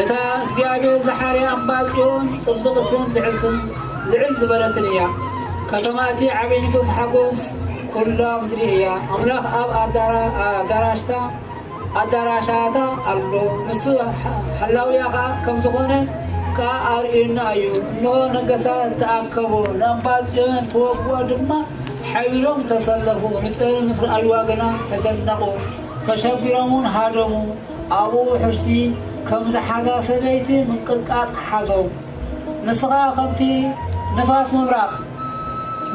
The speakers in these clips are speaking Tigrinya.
እታ እግዚኣብሔር ዝሓርያ እምባ ጽዮን ጽብቕትን ልዕልትን ልዕል ዝበለትን እያ። ከተማ እቲ ዓብይ ንጉሥ ሓጎስ ኩላ ምድሪ እያ። ኣምላኽ ኣብ ኣዳራሽታ ኣዳራሻታ ኣሎ፣ ንሱ ሓላውያ ኸዓ ከም ዝኾነ ከኣ ኣርእዩና እዩ። እንሆ ነገሳት ተኣከቡ፣ ንእምባ ጽዮን ክወግኡ ድማ ሓቢሮም ተሰለፉ፣ ንጽዮን ምስ ረኣይዋ ግና ተደነቑ። ተሸቢሮም ውን ሃደሙ፣ ኣብኡ ሕርሲ ከም ዝሓዛ ሰበይቲ ምንቅጥቃጥ ሓዞም። ንስኻ ከምቲ ንፋስ ምብራቕ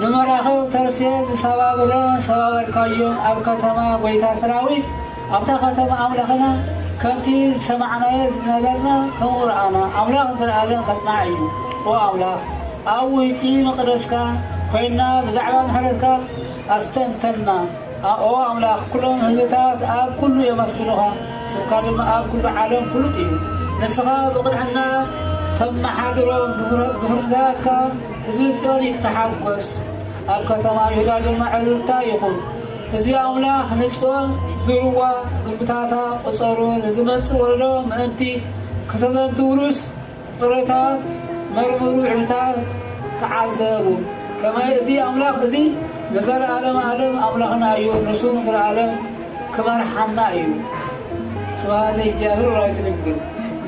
ንመራኽብ ተርሴስ ዝሰባብረ ሰባበርካዮም፣ ኣብ ከተማ ጎይታ ሰራዊት፣ ኣብታ ከተማ ኣምላኽና ከምቲ ዝሰማዕናዮ ዝነበርና ከምኡ ረኣና፣ ኣምላኽ ንዘለኣለም ከጽንዓ እዩ። ኦ ኣምላኽ፣ ኣብ ውሽጢ መቕደስካ ኮይንና ብዛዕባ ምሕረትካ ኣስተንተንና። ኣኦ ኣምላኽ፣ ኵሎም ህዝብታት ኣብ ኵሉ የመስግኑኻ፣ ስምካ ድማ ኣብ ኵሉ ዓለም ፍሉጥ እዩ። ንስኻ ብቕንዕና ተመሓድሮም፣ ብፍርድታትካ ህዝቢ ጽዮን ይተሓጐስ፣ ኣብ ከተማ ይሁዳ ድማ ዕልልታ ይኹን። ህዝቢ ኣምላኽ ንጽዮን ዙርዋ፣ ግምብታታ ቍጸሩ፣ ንዝመጽእ ወለዶ ምእንቲ ከተዘንትዉሉስ፣ ቁጽርታት መርምሩ ዕልታት ተዓዘቡ ከመይ እዚ ኣምላኽ እዚ ንዘልኣለም ኣለም ኣምላኽና እዩ ንሱ ንዘልኣለም ክመርሓና እዩ ስብሃት ለእግዚኣብሔር ወላዲቱ ድንግል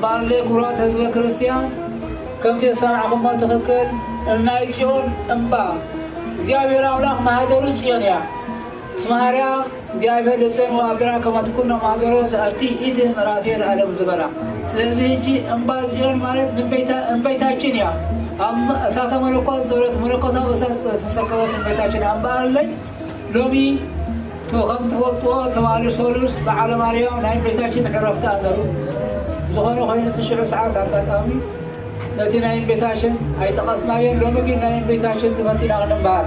ባለይ ክብራት ህዝበ ክርስቲያን ከምቲ ዝሰማዕኹሞ ትኽክል እናይ ጽዮን እምባ እግዚኣብሔር ኣምላኽ ማህደሩ ጽዮን እያ ስምሃርያ እግዚኣብሔር ለሰኑ ኣገራ ከመ ትኩኖ ማህደሮ ዘኣቲ ኢት ምዕራፌ ለዓለም ዝበላ። ስለዚህ ህጂ እምባ ጽዮን ማለት ንእምቤታ እምቤታችን እያ። ኣብ እሳተ መለኮት ዘረት መለኮታዊ እሳት ዝተሰከበት እምቤታችን ኣምባ ኣለኝ ሎሚ ቶ ከም ትፈልጥዎ ትማሊ ሰሉስ በዓለ ማርያም ናይ እምቤታችን ዕረፍታ ኣነሩ ዝኾነ ኮይኑ ትሽዑ ሰዓት ኣጋጣሚ ነቲ ናይ እምቤታችን ኣይጠቐስናዮን ሎሚ ግን ናይ እምቤታችን ትምህርት ኢና ክንምሃር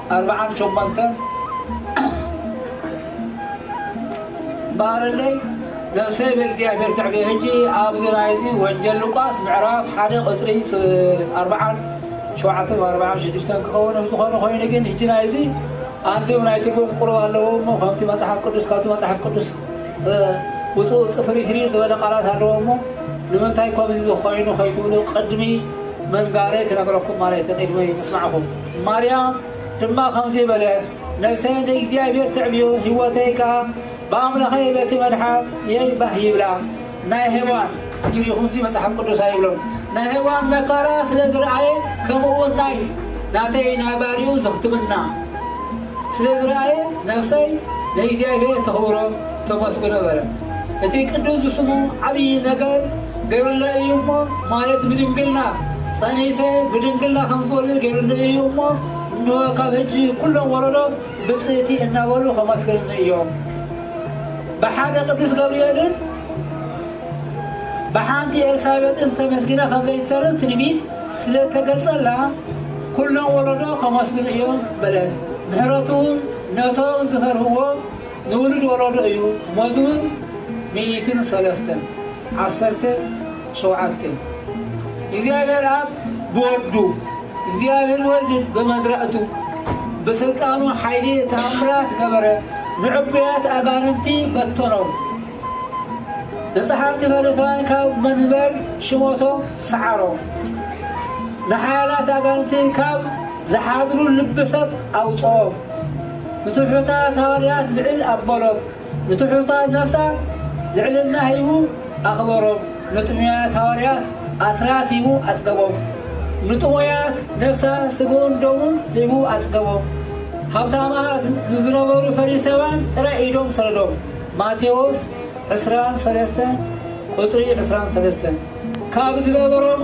ኣርብዓን ሸሞንተን ባርለይ ነፍሰይ ብእግዚኣብሔር ትዕበ ሕጂ ኣብዚ ናይዚ ወንጀል ሉቃስ ምዕራፍ ሓደ ቁፅሪ ኣርብዓን ሸውዓተን ኣርብዓን ሽዱሽተን ክኸውን ዝኾነ ኮይኑ ግን ሕጂ ናይዚ ኣንዲም ናይ ትርጉም ቁርብ ኣለዎ እሞ ከምቲ መፅሓፍ ቅዱስ ካብቲ መፅሓፍ ቅዱስ ውፅኡ ፅፍሪፍሪ ዝበለ ቃላት ኣለዎ እሞ ንምንታይ ከምዚ ዝኾይኑ ከይትብሉ ቅድሚ መንጋረይ ክነግረኩም ማለት ቅድሚ ምስማዕኹም ማርያም ድማ ከምዚ በለት፣ ነፍሰይ እንተ እግዚኣብሔር ተዕብዮ፣ ህይወተይ ከኣ ብኣምላኸይ በቲ መድሓት የይ ባህ ይብላ። ናይ ሄዋን ትሪኹም እዚ መጽሓፍ ቅዱስ ኣይብሎን ናይ ሄዋን መከራ ስለ ዝረኣየ ከምኡውን ናይ ናተይ ናይ ባሪኡ ዝኽትምና ስለ ዝረኣየት ነፍሰይ ንእግዚኣብሔር ተኽብሮ ተመስግኖ በለት እቲ ቅዱስ ስሙ ዓብዪ ነገር ገይሩለይ እዩ እሞ ማለት ብድንግልና ጸኒሰ ብድንግልና ከም ዝወልድ ገይሩለይ እዩ እሞ እንሆ ካብ ሕጂ ኩሎም ወለዶ ብጽእቲ እናበሉ ከመስግንኒ እዮም ብሓደ ቅዱስ ገብርኤልን ብሓንቲ ኤልሳቤጥን ተመስጊነ ከም ዘይተርፍ ትንቢት ስለ እተገልጸላ ኩሎም ወለዶ ከመስግኑ እዮም በለት ምሕረቱ ነቶም ዝፈርህዎ ንውሉድ ወለዶ እዩ መዝሙር ሚእትን ሰለስተን ዓሰርተ ሸውዓተ፣ እግዚኣብሔር ኣብ ብወዱ፣ እግዚኣብሔር ወልድ ብመዝራእቱ፣ ብሥልጣኑ ኃይሊ ተኣምራት ገበረ፣ ንዕቡያት ኣጋንንቲ በተኖም፣ ንጸሓፍቲ ፈሪሳውያን ካብ መንበር ሽሞቶም ሰዓሮም፣ ንኃያላት ኣጋንንቲ ካብ ዚኃድሩ ልቢ ሰብ ኣውጽኦም፣ ንትሑታት ሃዋርያት ልዕል ኣበሎም። ንትሑታት ነፍሳ ልዕልና ሂቡ ኣኽበሮም፣ ንጥሙያት ሃዋርያት ኣስራት ሂቡ ኣጽገቦም፣ ንጥሙያት ነፍሳ ስግኡን ደሙን ሂቡ ኣጽገቦም፣ ሃብታማት ንዝነበሩ ፈሪሳውያን ጥራይ ኢዶም ሰደዶም፣ ማቴዎስ ዕስራን ሰለስተን ቁጽሪ ዕስራን ሰለስተን፣ ካብ ዝነበሮም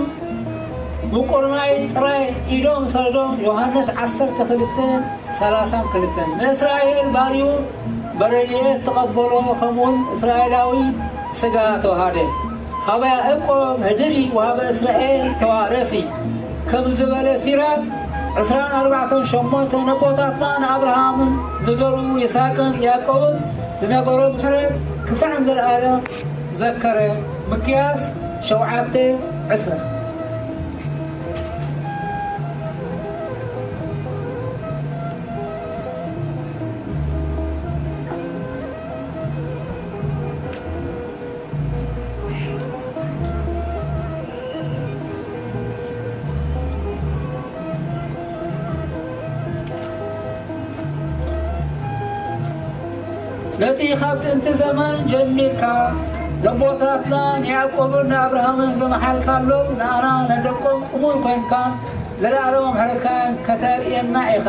ምቁር ማይ ጥራይ ኢዶም ሰደዶም፣ ዮሃንስ ዓሰርተ ክልተ ሰላሳን ክልተን፣ ንእስራኤል ባርዩ፣ በረድኤት ተቐበሎ ከምኡውን እስራኤላዊ ስጋ ተውሃደ። ሀበ ያእቆብ ህድሪ ወሀበ እስራኤል ተዋረሲ ከም ዝበለ ሲራክ ዕስራን ኣርባዕተን ሸሞንተን ኣቦታትና ንኣብርሃምን ንዘርኡ ይስሐቅን ያዕቆብን ዝነበሮ ምሕረት ክሳዕ ንዘለኣለም ዘከረ ምክያስ ሸውዓተ ዕስራ ነቲ ኻብ ጥንቲ ዘመን ጀሚርካ ለቦታትና ንያዕቆብን ንኣብርሃምን ዝመሓልካሎም ንኣና ነደቆም እሙን ኮንካን ዘለኣለሞም ሕረትካን ከተርእየና ኢኻ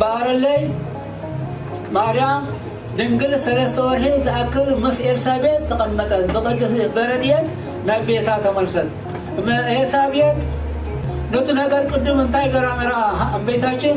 በኣረለይ ማርያም ድንግል ሰለስተ ወርሒ ዝኣክል ምስ ኤልሳቤጥ ተቐመጠት። ብቅድስ በረድኤት ናብ ቤታ ተመልሰት። ኤልሳቤጥ ነቲ ነገር ቅድም እንታይ ገራ ነራ እመቤታችን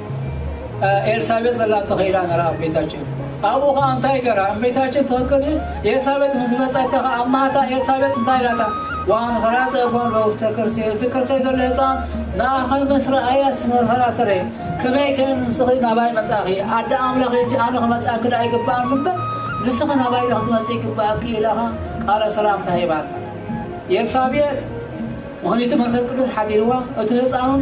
ኤልሳቤጥ ዘላቶ ከይዳ ነራ ኣብ ቤታችን ኣብኡ ከዓ እንታይ ገራ ኣብ ቤታችን ትክክል ኤልሳቤጥ ምስ መፀተ ከዓ ኣብ ማታ ኤልሳቤጥ እንታይ ኢላታ ዋን ከራፀ እጓን ለውስተ ቅርሴ እዚ ቅርሴ ዘሎ ህፃን ንኣኸይ ምስ ረኣያ ስመሰራሰረ ከመይ ከ ንስኺ ናባይ መፃኺ ኣደ ኣምላኽ እዚ ኣነ ክመፅኣኪ ዳ ይግባእ ምበር ንስኺ ናባይ ዶ ክትመፅ ይግባእኪ ኢላኻ ቃለ ሰላምታ ሂባታ ኤልሳቤጥ ምክንያቱ መንፈስ ቅዱስ ሓዲርዋ እቲ ህፃኑን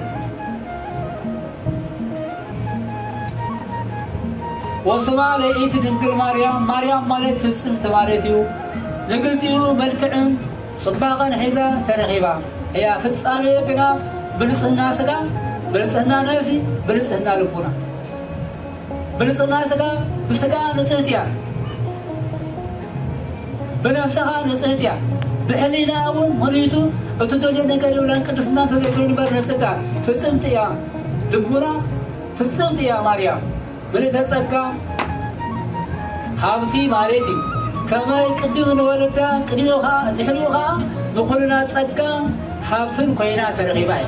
ወስማ ለይእቲ ድንግል ማርያም ማርያም ማለት ፍጽምቲ ማለት እዩ። ንግዚኡ መልክዕን ጽባቐን ሒዛ ተረኺባ እያ። ፍጻሜ ግና ብልጽህና ስጋ፣ ብልጽህና ነፍሲ፣ ብልጽህና ልቡና ብንጽህና ስጋ ብስጋ ንጽህቲ እያ ብነፍሲ ከኣ ንጽህቲ እያ ብሕሊና እውን ምክንይቱ እትደልዮ ነገር የብላን ቅድስና እንተዘይትደልዩ ንበር ንስጋ ፍጽምቲ እያ ልቡና ፍጽምቲ እያ ማርያም ምልእተ ጸጋ ሃብቲ ማለት እዩ ከመይ ቅድም ንወለዳ ቅድሚኡ ከዓ ድሕሪኡ ከዓ ንኩልና ጸጋ ሃብትን ኮይና ተረኺባ እዩ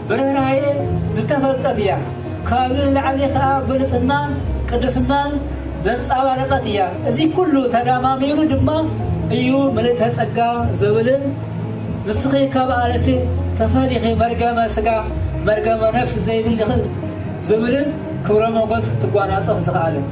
ብርህራሄ ዝተፈልጠት እያ ካብዚ ንላዕሊ ከኣ ብልጽናን ቅድስናን ዘንጻባረቀት እያ እዚ ኩሉ ተዳማሚሩ ድማ እዩ ምልእተ ጸጋ ዝብልን ንስኺ ካብ ኣንስቲ ተፈሊኺ መርገመ ስጋ መርገመ ነፍስ ዘይብልኺ ዝብልን ክብረ ሞጎስ ክትጓናጸፍ ዝኸኣለት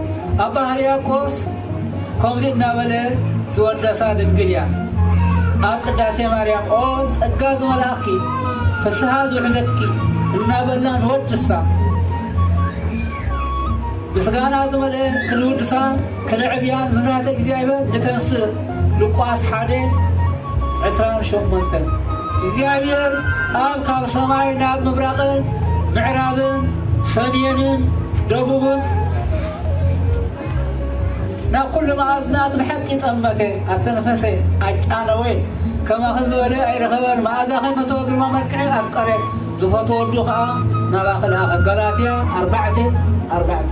ኣባ ሕርያቆስ ከምዚ እናበለ ዝወደሳ ድንግል እያ። ኣብ ቅዳሴ ማርያም ኦ ጸጋ ዝመልኣኪ ፍስሓ ዝውሕዘኪ እናበልና ንወድሳ ምስጋና ዝመልአ ክንውድሳ ክንዕብያን ምሕረተ እግዚኣብሔር ንተንስእ ሉቃስ ሓደ ዕስራን ሸሞንተን እግዚኣብሔር ኣብ ካብ ሰማይ ናብ ምብራቅን ምዕራብን ሰሜንን ደቡብን ናብ ኩሉ መኣዝናት ብሐቂ ጠመተ ኣስተንፈሰ ኣጫነወ ከማኺ ዝበለ ኣይረኸበን መኣዛኺ ፈተወ ግርማ መልክዕ ኣፍቀረ ዝፈትወ ወዱ ከዓ ናባኺ ለኣኸ ገላትያ ኣርባዕተ ኣርባዕተ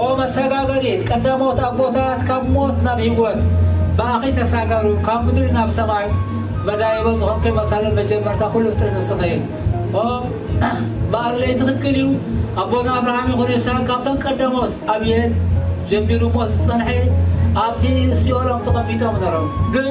ኦ መሰጋገሪት ቀዳሞት ኣቦታት ካብ ሞት ናብ ህይወት ብኣኺ ተሳገሩ ካብ ምድሪ ናብ ሰማይ መዳይቦ ዝኾንኪ መሰረት መጀመርታ ኩሉ ፍጥሪ ንስኺ ኦ በኣለይ ትኽክል እዩ ኣቦና ኣብርሃም ይኹን ይስሐቅ ካብቶም ቀዳሞት ኣብየት ጀሚሩ ሞት ዝጸንሐ ኣብቲ ሲኦሎም ተቐሚጦም ነሮም ግን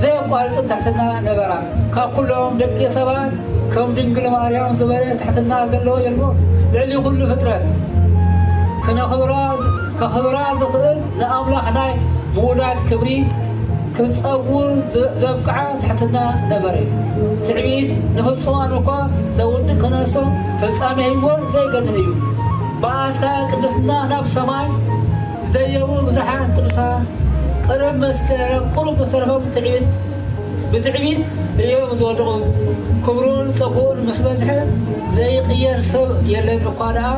ዘየቋርጽ ትሕትና ነበራ። ካብ ኩሎም ደቂ ሰባት ከም ድንግል ማርያም ዝበለ ትሕትና ዘለዎ የልቦን። ልዕሊ ኩሉ ፍጥረት ከኽብራ ዝኽእል ንኣምላኽ ናይ ምውላድ ክብሪ ክትጸውር ዘብቅዓ ትሕትና ነበረ። ትዕቢት ንፍጹማን እኳ ዘውድቅ ክነሶ ፍጻሜ ህይወት ዘይገድፍ እዩ። ብኣስካል ቅድስና ናብ ሰማይ ዝደየቡ ብዙሓት ቅዱሳን ቅርብ መስከረም ቁሩብ ምስ ተረፎም ትዕቢት ብትዕቢት እዮም ዝወድቑ። ክብሩን ጸግኡን ምስ በዝሐ ዘይቕየር ሰብ የለን እኳ ደኣ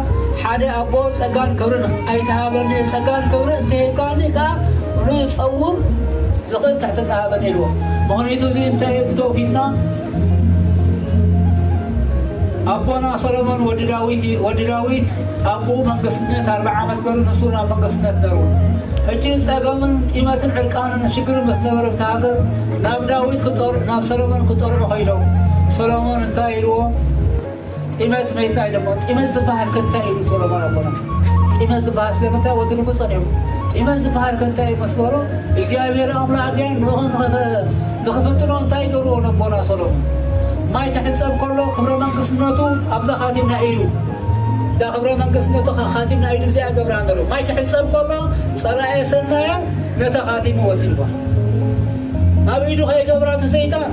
ሓደ ኣቦ ጸጋን ክብርን ኣይትሃበኒ ጸጋን ክብርን እንተሂብካኒ ከኣ ንጸውር ዝኽእል ትሕትና ሃበኒ ኢልዎ። ምኽንይቱ እዚ እንተ ብተውፊትና ኣቦና ሰሎሞን ወዲ ዳዊት እዩ። ወዲ ዳዊት ኣቦኡ መንግስትነት ኣርባ ዓመት ገሩ ንሱ ናብ መንግስትነት ነሩ ሕጂ ጸገምን ጢመትን ዕርቃንን ሽግር ምስ ነበረ ብቲ ሃገር ናብ ዳዊት ናብ ሰሎሞን ክጠርዑ ከይዶም ሰሎሞን እንታይ ኢልዎ ጢመት መይታይ ደሞ ጢመት ዝበሃል ከ እንታይ ኢሉ ሶሎሞን ኣቦና ጢመት ዝበሃል ስለምንታይ ወዲ ንጉሰ ነይሩ ጢመት ዝበሃል ከ እንታይ ኢሉ ምስ በሎ እግዚኣብሔር ኣምላክ ግን ንእሆ ንክፍትኖ እንታይ ገርዎ ነቦና ሶሎሞን ማይ ክሕፀብ ከሎ ክብረ መንግስትነቱ ኣብዛ ካቲምና ኢሉ እዛ ክብረ መንግስትነቱ ካቲምና ኢሉ ብዚኣ ገብራ ነሩ ማይ ክሕፀብ ከሎ ፀላኤ ሰናያ ነታ ካቲሙ ወሲድዋ ኣብ ኢዱ ከይገብራ ተሰይጣን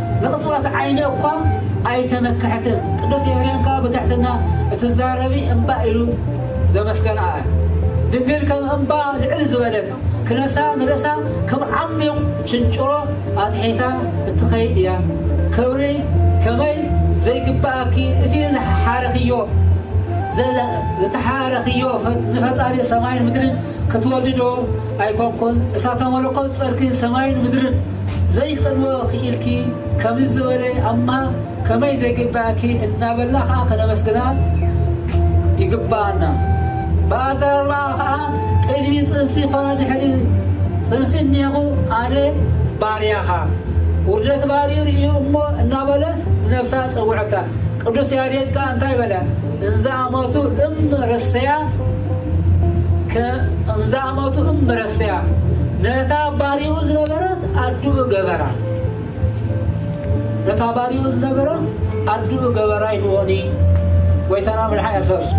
ንቕጽበት ዓይኒ እኳ ኣይተመክሐትን። ቅዱስ ኤፍሬም ከኣ ብትሕትና እትዛረቢ እምባ ኢሉ ዘመስገና እያ። ድንግል ከም እምባ ልዕል ዝበለት፣ ክነሳ ንርእሳ ከም ዓሚዩቕ ሽንጭሮ ኣትሒታ እትኸይድ እያ። ክብሪ ከመይ ዘይግብኣኪ እቲ ዝሓረኽዮ ዝተሓረኽዮ ንፈጣሪ ሰማይን ምድርን ክትወልዲ ዶ ኣይኮንኩን እሳተ መለኮት ጸርኪ ሰማይን ምድርን ዘይከድዎ ክኢልኪ ከምዚ ዝበለ ኣማ ከመይ ዘይግበኣኪ እናበልና ከኣ ከነመስግና ይግበኣና። ብኣዘራርባኣ ከኣ ቅድሚ ጽንሲ ኮነ ድሕሪ ጽንሲ እኒሀኹ ኣነ ባርያኻ ውርደት ባርዩ ርእዩ እሞ እናበለት ንነብሳ ጸውዐታ። ቅዱስ ያሬድ ከኣ እንታይ በለ እንዘኣመቱ እም ረሰያ ከ ኣመቱ እምበረሰያ ነታ ባሪኡ ዝነበረት ኣዱኡ ገበራ። ነታ ባሪኡ ዝነበረት ኣዱኡ ገበራ ይንወኒ ጎይታና ምድሓ የርሰሱ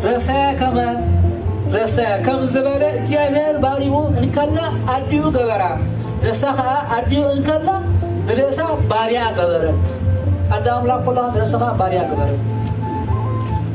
ረሰያ ከመ ረሰያ ከም ዝበለ እግዚኣብሔር ባሪኡ እንከላ ኣዲኡ ገበራ ንሳ ከዓ ኣዲኡ እንከላ ንርእሳ ባሪያ ገበረት ኣዳ ኣምላክ ኩላ ንርእስኻ ባሪያ ገበረት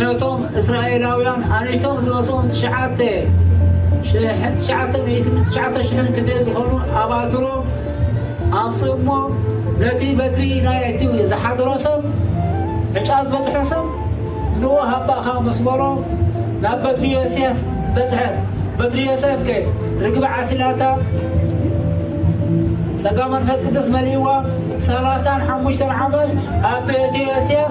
ነቶም እስራኤላውያን ኣንሽቶም ዝበጽኡም ትሽዓተ ሽሕን ትሽዓተ ሚእትን ትሽዓተ ሽሕን ክንደይ ዝኾኑ ኣባትሮም ኣምጽኡ እሞ ነቲ በትሪ ናይ እቲ ዝሓደሮ ሰብ ዕጫ ዝበጽሖ ሰብ ንኡ ሃባኻ ምስ በሎ ናብ በትሪ ዮሴፍ በጽሐት በትሪ ዮሴፍ ከ ርግቢ ዓሲላታ ጸጋ መንፈስ ቅዱስ መሊእዋ ሰላሳን ሓሙሽተን ዓመት ኣብ ቤት ዮሴፍ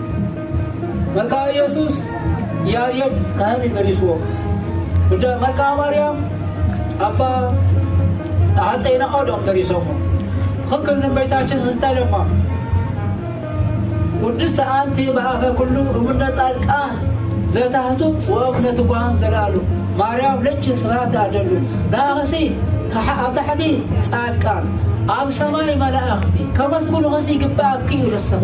መልክኣ ኢየሱስ ያሬድ ካህን እዩ ደሪስዎ። ጉዳ መልክኣ ማርያም ኣባ ሃፀይ ናኦድ እዮም ደሪሶሞ። ትኽክል ንእመቤታችን እንታይ ለማ ውድስቲ ኣንቲ በኣፈ ኩሉ እምነ ጻድቃን ዘታህቱ ወእምነ ትጉሃን ዘላሉ ማርያም ልጅ ስብሐት ኣደሉ ንኣኽሲ ኣብ ታሕቲ ጻድቃን ኣብ ሰማይ መላእኽቲ ከመስግኑኽሲ ይግብኣኪ እዩ ንስኺ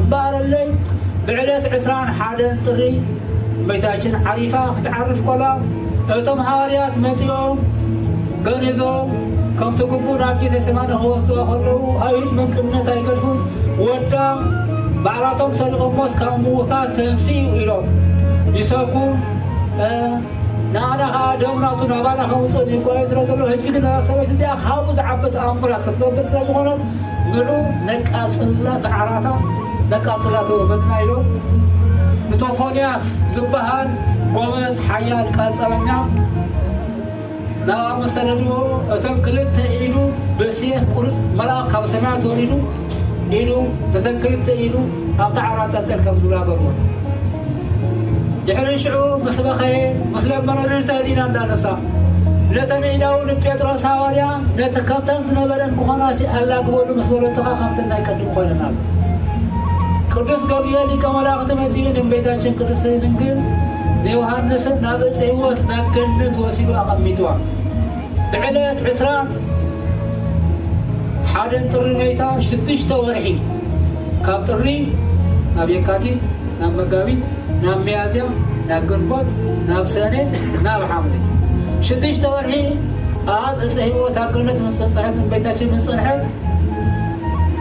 እምበኣረለይ ብዕለት ዕስራን ሓደን ጥሪ እመይታችን ዓሪፋ ክትዓርፍ ኮላ እቶም ሃዋርያት መጺኦም ገኒዞም ከምቲ ግቡእ ናብ ቤተ ሰማነ ክወስድዋ ከለዉ ኣይሁድ ምንቅነት ኣይገድፉን ወዳ ባዕላቶም ሰሪቖሞስ ካብ ምዉታት ተንስኡ ኢሎም ይሰብኩ ንኣና ከኣ ደም ናቱ ናባና ከምጽእ ንጓዩ ስለ ዘሎ ህጂ ግን እዛ ሰበይቲ እዚኣ ካብኡ ዝዓቢ ተኣምራት ክትገብር ስለ ዝኾነት ንዑ ነቃጽላ ተዓራታ ነቃጽላ ተወፈድና ኢሎም ንቶፎንያስ ዝበሃል ጎበዝ ሓያል ቀጸበኛ ናብ መሰደድዎ እቶም ክልተ ኢዱ ብስየፍ ቁርጽ መልኣኽ ካብ ሰማያት ወሪዱ ኢሉ ነተን ክልተ ኢዱ ኣብታ ዓራት ጠልጠል ከም ዝብላ ገርዎ ድሕሪ ሽዑ ምስ በኸየ ምስ ለመነ ርድተ ዲና እንዳነሳ ነተን ኢዳው ንጴጥሮስ ሃዋርያ ነቲ ከምተን ዝነበረን ክኾናሲ ኣላግበሉ ምስ በለቶኻ ከምተን ናይ ቅድም ኮይነናል ቅዱስ ገብርኤል ሊቀ መላእክት መጺኡ ንእመቤታችን ቅድስት ድንግል ንዮሐንስን ናብ ዕፀ ሕይወት ናብ ገነት ወሲዱ ኣቐሚጥዋ ብዕለት ዕስራ ሓደን ጥሪ መይታ ሽዱሽተ ወርሒ ካብ ጥሪ ናብ የካቲት ናብ መጋቢት ናብ ሚያዝያ ናብ ግንቦት ናብ ሰነ ናብ ሓምለ ሽዱሽተ ወርሒ ኣብ እፀ ህይወት ኣብ ገነት ምስ በፅሐት እመቤታችን ምስ ፀንሐት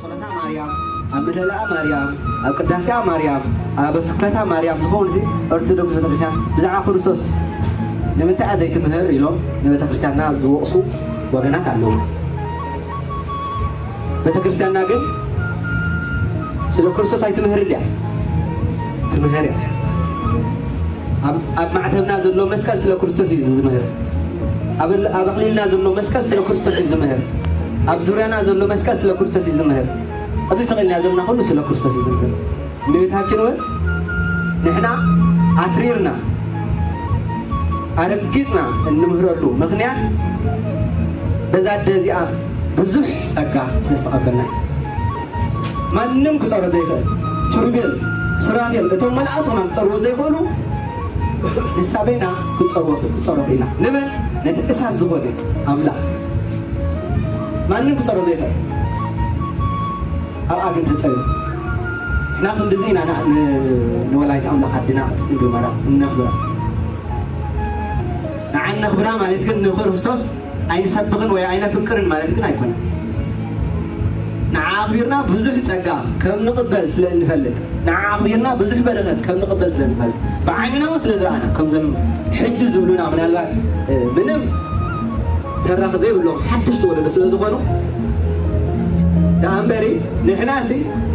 ጸሎታ ማርያም፣ ኣብ ምህለላኣ ማርያም፣ ኣብ ቅዳሴኣ ማርያም፣ ኣብ ስብከታ ማርያም ዝኸውንሲ ኦርቶዶክስ ቤተክርስትያን ብዛዕባ ክርስቶስ ንምንታይ'ያ ዘይትምህር ኢሎም ንቤተክርስትያንና ዝወቕሱ ወገናት ኣለዉ። ቤተክርስትያንና ግን ስለ ክርስቶስ ኣይትምህርን'ድያ? ትምህር'ያ። ኣብ ኣብ ማዕተብና ዘሎ መስቀል ስለ ክርስቶስ እዩ ዝምህር። ኣብ እል- ኣብ ኣኽሊልና ዘሎ መስቀል ስለ ክርስቶስ እዩ ዝምህር። ኣብ ዙርያና ዘሎ መስቀል ስለ ክርስቶስ እዩ ዝምህር። ኣብዚ ሰቂልና ዘለና ኩሉ ስለ ክርስቶስ እዩ ዝምህር። እመቤታችን እውን ንሕና ኣትሪርና ኣረጊፅና እንምህረሉ ምክንያት በዛ ኣደ እዚኣ ብዙሕ ጸጋ ስለ ዝተቐበልና እዩ። ማንም ክጸሮ ዘይክእል ኪሩቤል ሱራፌል እቶም መልኣኽ ኹናም ክጸርዎ ዘይክእሉ ንሳ በይና ክትጸርዎ ክትጸሮ ክኢላ ንመን ነቲ እሳት ዝኾነ ኣምላኽ ማንም ክጸሮ ዘይክእል ኣብኣ ግን ተጸሩ እና ክንድዚ ኢና ንኣ- ን- ንወላዲተ ኣምላኽ ኣድና ቅድስት ድንግል ማርያም እነኽብራ ንዓ እነኽብራ ማለት ግን ንክርስቶስ ኣይንሰብኽን ወይ ኣይነፍቅርን ማለት ግን ኣይኮነን። ንዓ ኣኽቢርና ብዙሕ ጸጋ ከም ንቕበል ስለ እንፈልጥ፣ ንዓ ኣኽቢርና ብዙሕ በረኸት ከም ንቕበል ስለ እንፈልጥ፣ ብዓይንና እውን ስለ ዝረኣና፣ ከምዞም ሕጂ ዝብሉና ምናልባት ምንም ተራኺ ዘይብሎም ሓደሽቲ ወለዶ ስለ ዝኾኑ ደኣ እምበሪ ንሕናሲ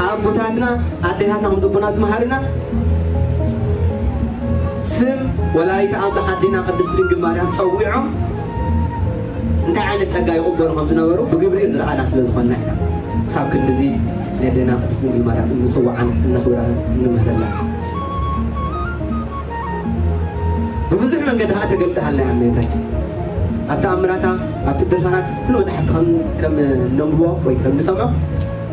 ኣቦታትና ኣዴታትና ከም ዝቡና ዝመሃርና ስም ወላዲተ ኣምላኽ ኣዴና ቅድስት ድንግል ማርያም ጸዊዖም እንታይ ዓይነት ጸጋ ይቕበሉ ከም ዝነበሩ ብግብሪ ዝረኣና ስለ ዝኾንና ኢና ክሳብ ክንድዚ ነዴና ቅድስት ድንግል ማርያም እንጽውዓን እነኽብራን እንምህረላን። ብብዙሕ መንገዲ ከኣ ተገልጠሃልና እያ እመቤታችን ኣብ ተኣምራታ ኣብቲ ድርሳናት ኩሉ መጻሕፍቲ ከም እነንብቦ ወይ ከም እንሰምዖ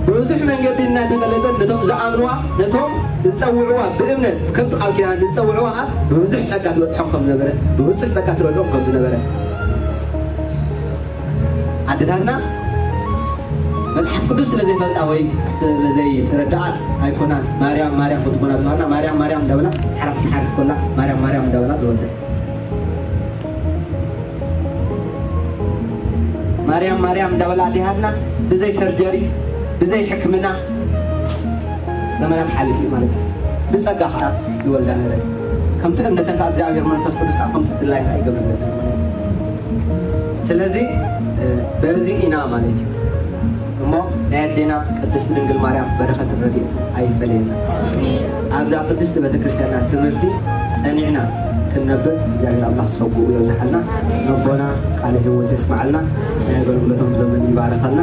ብብዙሕ መንገዲ እናተገለጸት ነቶም ዝኣምንዋ ነቶም ዝጸውዕዋ ብእምነት ከምቲ ቃል ኪዳና ንዝጸውዕዋ ከኣ ብብዙሕ ጸጋ ትበጽሖም ከም ዝነበረ ብብጹሕ ጸጋ ትረድኦም ከም ዝነበረ ኣደታትና መጽሓፍ ቅዱስ ስለ ዘይፈልጣ ወይ ስለ ዘይተረድኣ ኣይኮናን ማርያም ማርያም ክትኮና ዝባህና ማርያም ማርያም እንዳበላ ሓራስ ክትሓርስ ኮላ ማርያም ማርያም እንዳበላ ዝወልደ ማርያም ማርያም እንዳበላ ኣዲሃትና ብዘይ ሰርጀሪ ብዘይ ሕክምና ዘመናት ሓሊፉ ማለት እዩ ብጸጋ ከዓ ይወልዳ ነረ ከምቲ እምነተን ከዓ እግዚኣብሔር መንፈስ ቅዱስ ከዓ ከምቲ ዝድላይ ከዓ ይገብር ነበር ማለት እዩ ስለዚ በዚ ኢና ማለት እዩ እሞ ናይ ኣዴና ቅድስቲ ድንግል ማርያም በረከትን ረድኤትን ኣይፈለየና ኣብዛ ቅድስቲ ቤተክርስትያንና ትምህርቲ ፀኒዕና ክንነብር እግዚኣብሔር ኣምላክ ፀጉኡ የብዝሓልና ነቦና ቃለ ህይወት የስመዓልና ናይ ኣገልግሎቶም ዘመን ይባርከልና